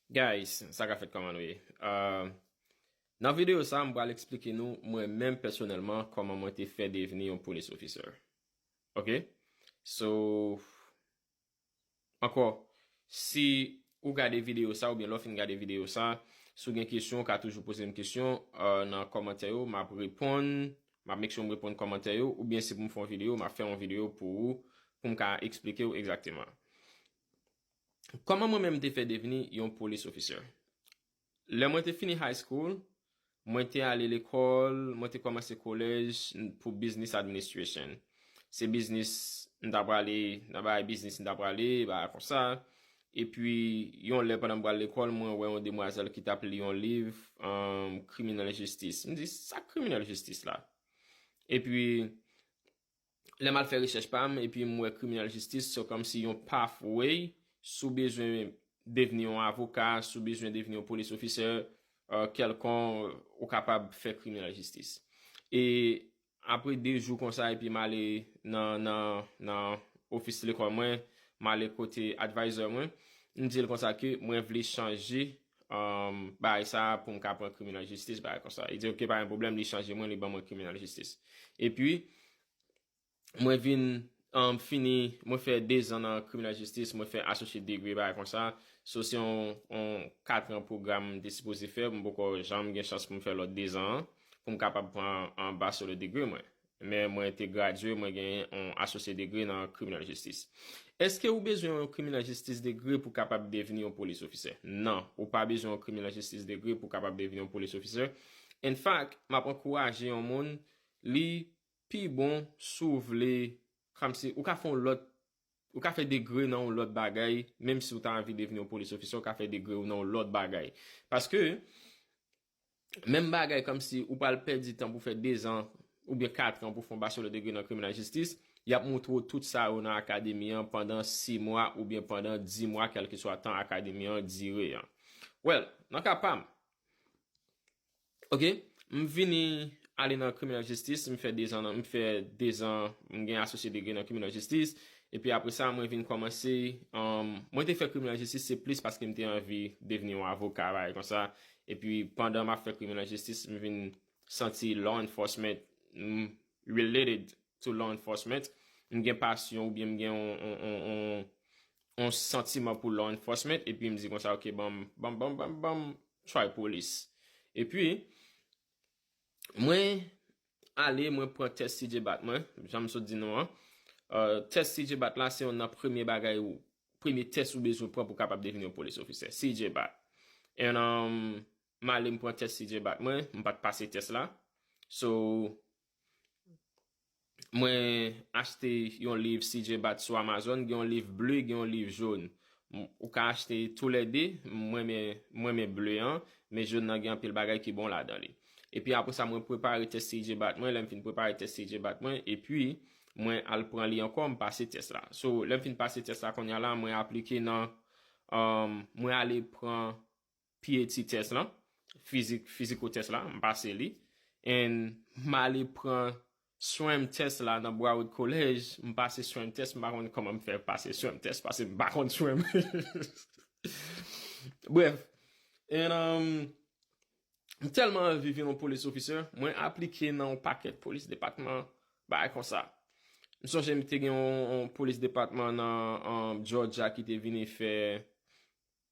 Guys sa ka fèt kòman nou ye euh. Nan videyo sa m pral eksplike nou mwen menm pèsonèlman kòman mwen te fè devni yon police officer ok so ankò si ou gade videyo sa oubyen lè w fin gade videyo sa si w gen kesyon ou ka toujou poze m kesyon nan kòmantè yo m ap reponn m ap make sure m reponn kòmantè yo oubyen si pou m fè yon videyo m ap fè yon videyo pou ou pou m ka eksplike w egzakteman. Kòman mwen menm te fè devni yon police officer? Lè mwen te fini high school, mwen te ale lekòl, mwen te kòmanse kolèj pou business administration. Se biznis m ta prale, nan bagay biznis m ta prale, bagay konsa. E pi, yon lè pandan m pral lekòl, mwen wè yon demwazèl ki t ap li yon liv criminal justice. M di, sa criminal justice la? E pi, Lèm al fè recherche pam epi m wè criminal justice se kòm si yon pathway si w bezwen devni yon avoka, si w bezwen devni yon police officer kèlkon ou kapab fè criminal justice. E apre 2 jou konsa epi m ale nan office lekòl mwen, m ale kote advisor mwen, m di l konsa ke mwen vle chanje bagay sa a pou m ka pran kriminal jistis bagay konsa. Li di ok pa gen pwoblèm li chanje mwen li ban mwen kriminal jistis. E pi mwen vin fini mwen fè 2 zan nan kriminal jistis mwen fè asosyet degre bagay konsa. So se yon 4 tran pwogram mwen te sipoze fè mwen poko janm gen chans pou m fè lòt 2 zan an pou m kapab pran baselò degre mwen. Men mwen te gradye, mwen genyen on asosye degre nan kriminal jistis. Eske ou bezwen on kriminal jistis degre pou kapab devni on polis ofisè? Nan, ou pa bezwen on kriminal jistis degre pou kapab devni on polis ofisè. En fak, m ap ankouraje on moun, li pi bon si w vle, kòmsi, ou ka fè on lòt, ou ka fè degre nan on lòt bagay, menm si ou ta anvi devni on polis ofisè, ou ka fè degre ou nan on lòt bagay. Paske, menm bagay kòmsi ou pral pèdi tan pou fè 2 zan oubyen 4 tran pou fè yon bachelò degre nan kriminal jistis, y ap moutre w tout sa yo nan akademi an pandan 6 mwa oubyen pandan 10 mwa kèlkeswa tan akademi an dire an. Well, nan ka pa m, ok, m vini ale nan kriminal jistis, m fè 2 zan nan, m fè 2 zan, m gen asosye degre nan kriminal jistis, epi apre sa mwen vin kòmanse, mwen te fè kriminal jistis se plis paske m te anvi devni yon avoka bagay konsa, Epi pandan map fè criminal justice m vin santi law enforcement m related to law enforcement m gen pasyon oubyen m gen on santiman pou law enforcement epi m di konsa ok banm banm banm banm banm try police epi mwen Ale mwen pran tès TJ Bat mwen, janm sot di nou an. Tès TJ Bat la se yon nan premye bagay ou, premye tès ou bezwen pran pou kapab deveni yon polis ofisè. TJ Bat. And um, m ale m pran tès TJ Bat mwen, m pat pase tès la. So, mwen achte yon liv TJ Bat sou Amazon, gen yon liv ble, gen yon liv jone. Ou ka achte tou lè 2, m renmen m renmen bleu an, men jaune nan gen anpil bagay ki bon ladan li. Epi apre sa mwen prepare tès CIJ bat mwen, lèm fin prepare tès CIJ bat mwen, epi mwen al pran li ankò m pase tès la. So lèm fin pase tès la kounya la mwen aplike nan mwen ale pran pye ti tès lan, fizik, fiziko tès la, m pase li, and m ale pran swèm tès la nan Broward College, m pase swèm tès, m pa konn kòman m fè pase swèm tès, pase m pa konn swèm. Brèf, and um, m tèlman anvi vin yon police officer, mwen aplike nan yon pakèt police department, bagay konsa. M sonje m te gen yon police department nan um, Georgia ki te vini fè,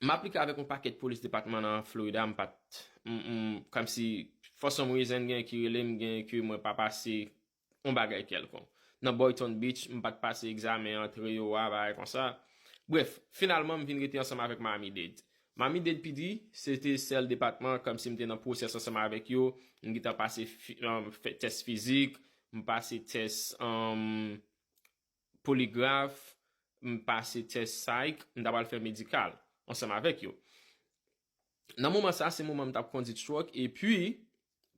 M aplike avèk yon pakèt polis depatman nan Florida m pat kòmsi for some reason gen ki rele m gen ke mwen pa pase yon bagay kèlkonk. Nan Boyton Beach m pat pase egzamen antre yo a bagay konsa. Brèf, finalman m vin rete ansanm avèk Miami Dade. Miami Dade PD se te sèl depatman kòmsi m te nan pwosès ansanm avèk yo, m gentan pase tès fizik, m pase tès poligraf, m pase tès psy, m ta pral fè medikal ansanm avèk yo. Nan moman sa, se moman m t ap kondi truck epi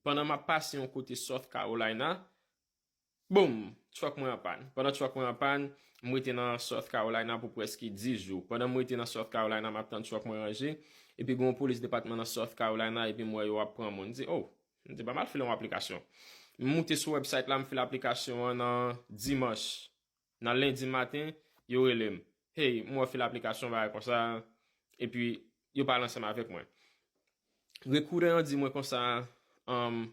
pandan m ap pase yon kote South Carolina, boom! Truck mwen an pàn. Pandan truck mwen an pàn, m rete nan South Carolina pou prèske 10 jou. Pandan m rete nan South Carolina, m ap tann truck mwen ranje, epi gen yon polis depatman nan South Carolina epi m wè yo ap pran moun. M di, Oh! M te ba mal file yon aplikasyon. M moute sou website la m file aplikasyon an nan dimanche. Nan lendi maten yo rele m. Hey m wè w file aplikasyon yon bagay konsa epi yo pale ansanm avèk mwen. Rekoudan an di mwen konsa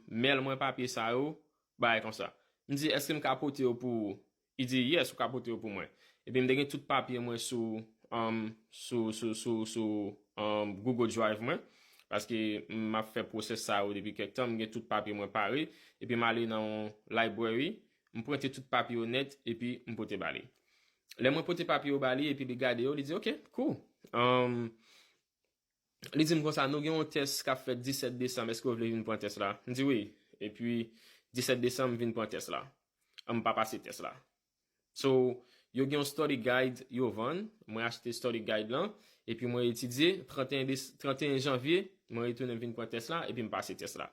mail mwen papye sa yo bagay konsa. M di eske m ka pote yo pou ou. Li di, Yes, ou ka pote yo pou mwen. Epi m te gen tout papye mwen sou, um, sou, sou, sou, sou, um, Google Drive mwen, paske m ap fè pwosès sa yo depi kèk tan, m gen tout papye mwen pare, epi m ale nan yon library, m prente tout papye yo nèt, epi m pote ba li. Lè mwen pote papye yo ba li, epi li gade yo, li di, Ok, cool. Um. Li di m konsa, nou gen yon tès k ap fèt 17 desanm, èske w vle vin pran tès la? M di wi. Epi 17 desanm m vin pran tès la. An m pa pase tès la. So, yo gen yon study guide yo vann, mwen achte study guide lan, epi mwen etidye, 31 janvye, mwen retounen m vin pran tès la, epi m pase tès la.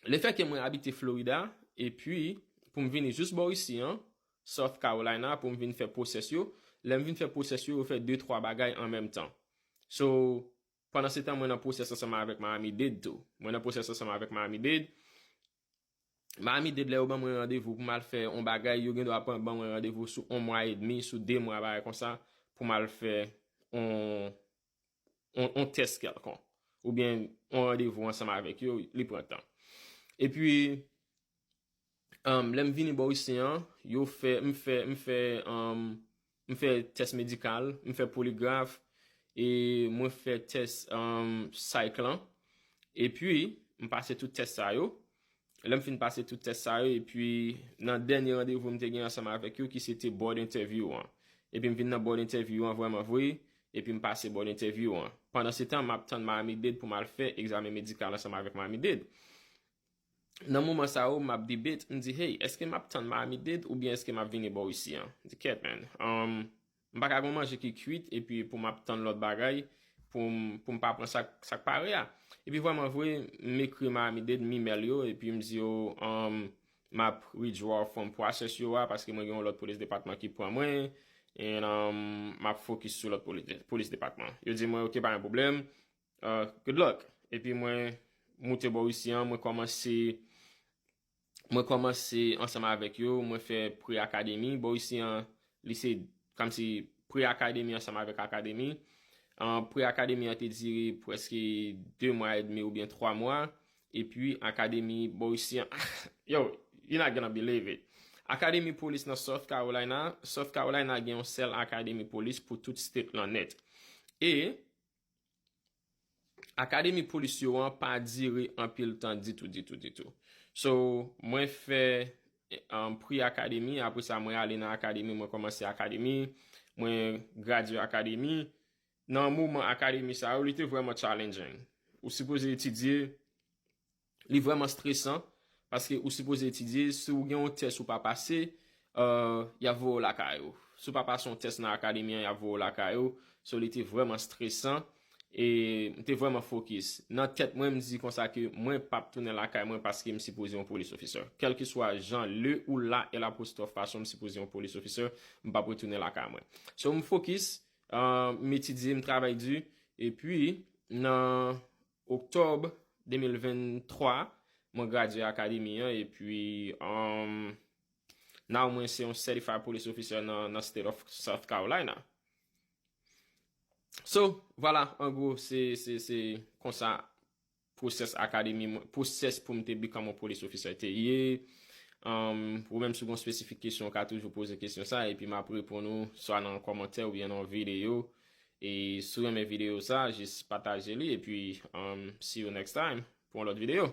Le fè ke mwen abite Florida, e pi, pou m vini jous bò isi an, South Carolina, pou m vin fè pwosès yo, lè m vin fè pwosès yo, yo fè de twa bagay an menm tan. So, pandansetan mwen nan pwosès ansanm avèk Miami Dade tou. Mwen nan pwosès ansanm avèk Miami Dade. Miami Dade lè yo ban mwen randevou pou m al fè yon bagay, yo gen dwa pran ban mwen randevou sou yon mwa edmi, sou de mwa, bagay konsa, pou m al fè yon, yon tès kèlkonk, oubyen yon randevou ansanm avèk yo, li pran tan. E pi, lè m vini bò isi an, yo fè, m fè, m fè, m fè tès medikal, m fè poligraf, e mwen fè tès psych lan, e pi, m pase tout tès sa yo, Lè m fin pase tout tès sa yo epi nan dènye randevou m te gen ansanm avèk yo ki se te board interview an. Epi m vin nan board interview an vrèman vre epi m pase board interview an. Pandansetan m ap tann Miami Dade pou m al fè egzamen medikal ansanm avèk Miami Dade. Nan moman sa yo m ap debate, m di hey eske m ap tann Miami Dade oubyen eske m ap vini bò w isi an? Di kèt man. M pa ka gen yon manje ki kuit epi pou m ap tann lòt bagay pou m pou m pa pran sa k pare a. Epi vrèman vre, m ekri Malamide, m imèl yo epi m di yo m ap withdraw from process yo a paske mwen gen yon lòt polis depatman ki pran mwen and m ap fokis sou lòt polis depatman. Yo di mwen ok pa gen pwoblèm, good luck. Epi mwen moute bò Russie an, mwen kòmanse Mwen kòmanse ansanm avèk yo, mwen fè pre-akademi. Bò isi an, li se kòmsi pre-akademi ansanm avèk akademi. Pre-akademi an te dire prèske 2 mwa edmi oubyen 3 mwa. E pi akademi bò isi an, yo, you're not gonna believe it! Akademi polis nan South Carolina, South Carolina gen yon sèl akademi polis pou tout state lan nèt. E, Akademi polis yo an pa dire anpil tan ditou ditou ditou. So, mwen fè pre akademi, apre sa mwen ale nan akademi, mwen kòmanse akademi, mwen gradye akademi. Nan moman akademi sa yo, li te vrèman challenging. Ou sipoze etidye, Li vrèman stresan paske ou sipoze etidye, si ou gen yon tès ou pa pase, y ap voye ou lakay ou. Si ou pa pase yon tès nan akademi an, y ap voye ou lakay ou. So li te vrèman stresan e m te vrèman fokis. Nan tèt mwen, m di konsa ke mwen pap tounen lakay mwen paske m sipoze yon police officer. Kèlkeswa jan le ou la e lapostrof fason m sipoze yon police officer, m pap retounen lakay mwen. So m fokis, m etidye, m travay di. Epi nan Oktòb 2023, mwen gradye Akademi an epi um now mwen se yon Certified Police Officer nan State of South Carolina. So, vwala, an gwo, se konsa pwosès Akademi mwen, pwosès pou m te become yon Police Officer te ye. Um Ou menm si w gen yon spesifik kesyon, ou ka toujou poze kesyon sa epi m ap reponn ou swa nan kòmantè oubyen nan yon videyo. E si w renmen video sa jis pataje li epi see you next time pou yon lòt video.